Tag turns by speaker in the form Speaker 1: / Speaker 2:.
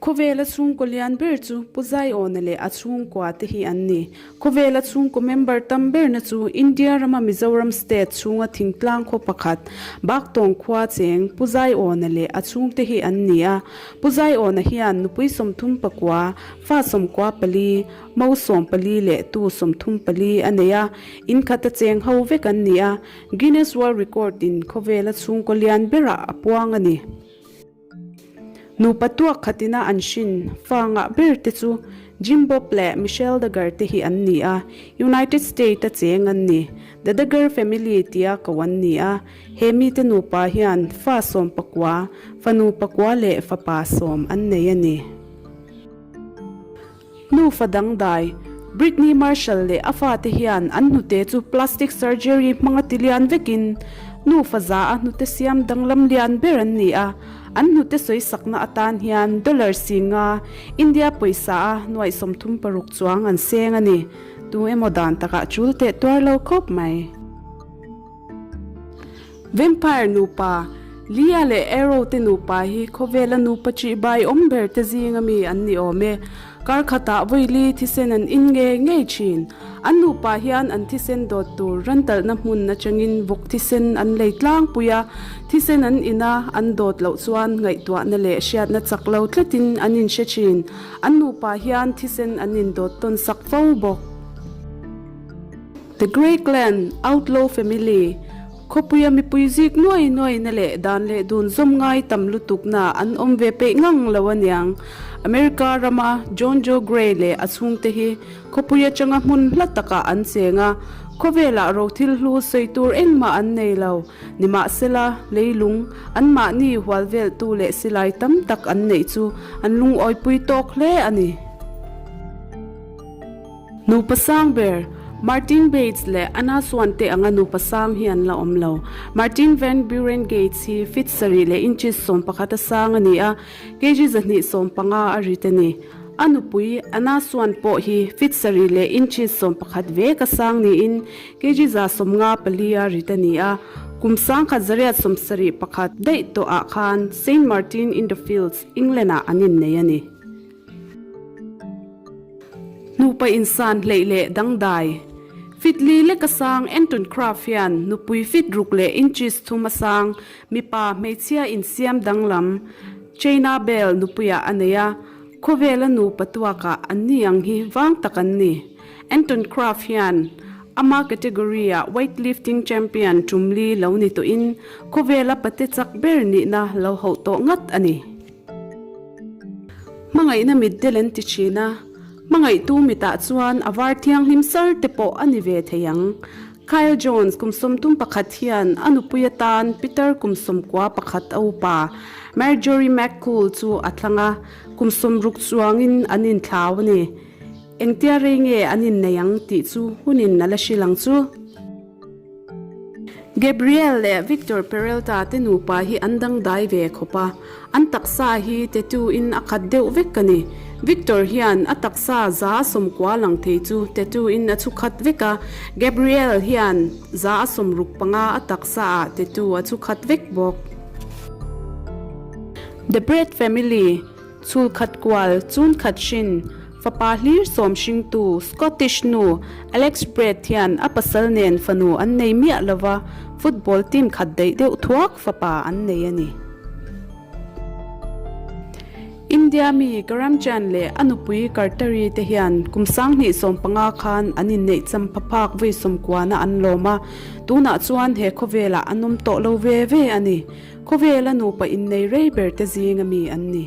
Speaker 1: Khawvela chhungkaw lian ber chu Pu Zaiawna leh a chhungkua te hi an ni. Khawvela chhungkaw member tam berna chu India rama Mizoram state chhunga thingtlang khaw pakhat, Baktawng khua cheng, Pu Zaiawna leh a chhung te hi an ni a. Pu Zaiawna hian nupui sawmthum pakua, fa sawmkua pali, mo sawm pali leh tu sawmthum pali a nei a. Inkhat a cheng ho vek an ni a. Guinness World Record in Khawvela chhungkaw lian berah a puang a ni. Nupa tuak khat ina an hrin fa ngah ber te chu Jim Bob leh Michelle Duggar te hi an ni a, United State a cheng an ni. The Duggar family tia ko an ni a, he mite nupa hian fa sawm pakua, fanu pakua leh fapa sawm an nei a ni. Nufa dangdai, Brittney Marshall leh a fate hian an hnute chu plastic surgery hmanga ti lian vekin nufa za a hnute siam danglam lian ber an ni a. An hnute sawi sakna atan hian dollar singa India pawisa a nuai sawm thum paruk chuang an seng a ni. Tu emaw dan takah chul teh tuar lo khawp mai. Vampire nupa, Lia leh Arrow te nupa hi khawvela nupa ṭih bai awm ber te zinga mi an ni awm e. Kar khatah Vawiili thisen an in ngei ngei ṭhin. An nupa hian an thisen dawt tur rantalhna hmun aṭangin vawk thisen an lei tlangpui a. Thisen an in a, an dawt loh chuan ngaihtuahna leh hriatna chak lo tletin an in hre ṭhin. An nupa hian thisen an in dawt tawnsak fo bawk. The Grey Clan, Outlaw Family, Khawpuia mipui zik nuai nuai na leh dan leh dun zawm ngai tam lutuk na an awm ve peih ngang lo aniang. America rama John Joe Grey leh a chhungte hi khawpui atanga hmun hla takah an cheng a, khawvelah ro thil hlu sawi tur engmah an nei lo. Nimahsela, leilung an mahni hualveltu leh silai tam tak an neih chu an lungawi pui tawk hle a ni. Nupa sang ber, Martin Bates leh Anna Swan te anga nupa sang hi an la awm lo. Martin Van Buren Gates hi feet sarih leh inches sawm pakhat a sang a ni a, kg zahnih sawm panga a rit a ni. A nupui, Anna Swan pawh hi feet sarih leh inches sawm pakhat vek a sang niin kg za sawm nga pali a rit a ni a. Kum sangkhat zariat sawm sarih pakhat daih tawhah khan Saint Martin-in-the-Fields, England-ah an innei a ni. Nupa in san hleih leh dangdai fitli lek a sang Anton Kraft hian nupui fit ruk leh inches thum a sang mipa hmeichhia insiam danglam China Belle nupuiah a nei a. Khawvela nupa tuakah an ni ang hi vang tak an ni. Anton Kraft hian ama category ah weightlifting champion tumli lo ni tawhin khawvela pate chak ber nihna lo hauh tawh ngat a ni. Hmangaihna mit del an ti thin a, hmangaihtu mitah chuan a var thianghlim sar te pawh a ni ve thei ang. Kyle Jones, kum sawm tum pakhat hian a nupui atan Peter kum sawm kua pakhat a upa Marjorie McCool chu a thlang a, kum sawm ruk chuangin an inthlau a ni. Engtia rei nge an innei ang tih chu hunin a la hrilh ang chu. Gabriel leh Victor Perelta te nupa hi an dangdai ve khawp a, an taksa hi tattoo in a khat deuh vek a ni. Victor hian a taksa za a sawm kua lang thei chu tattoo in a chhu khat vek a, Gabriel hian za a sawm ruk panga a taksa ah tattoo a chhu khat vek bawk. The Brett Family. Chhulkhat kual, chunkhat hrin, fapa hlir sawm hringtu, Scottish nu, Alex Brett hian a pasal nen fanu an nei miah lova football team khat daih deuh thuak fapa an nei a ni. India mi Karamchand leh a nupui Kartari te hian kum sang hnih sawm panga khan an inneih champha phak vawi sawmkuana an lawm a, tunah chuan he khawvelah an awm tawh lo ve ve a ni. Khawvel a nupa innei rei berte zing ami an ni.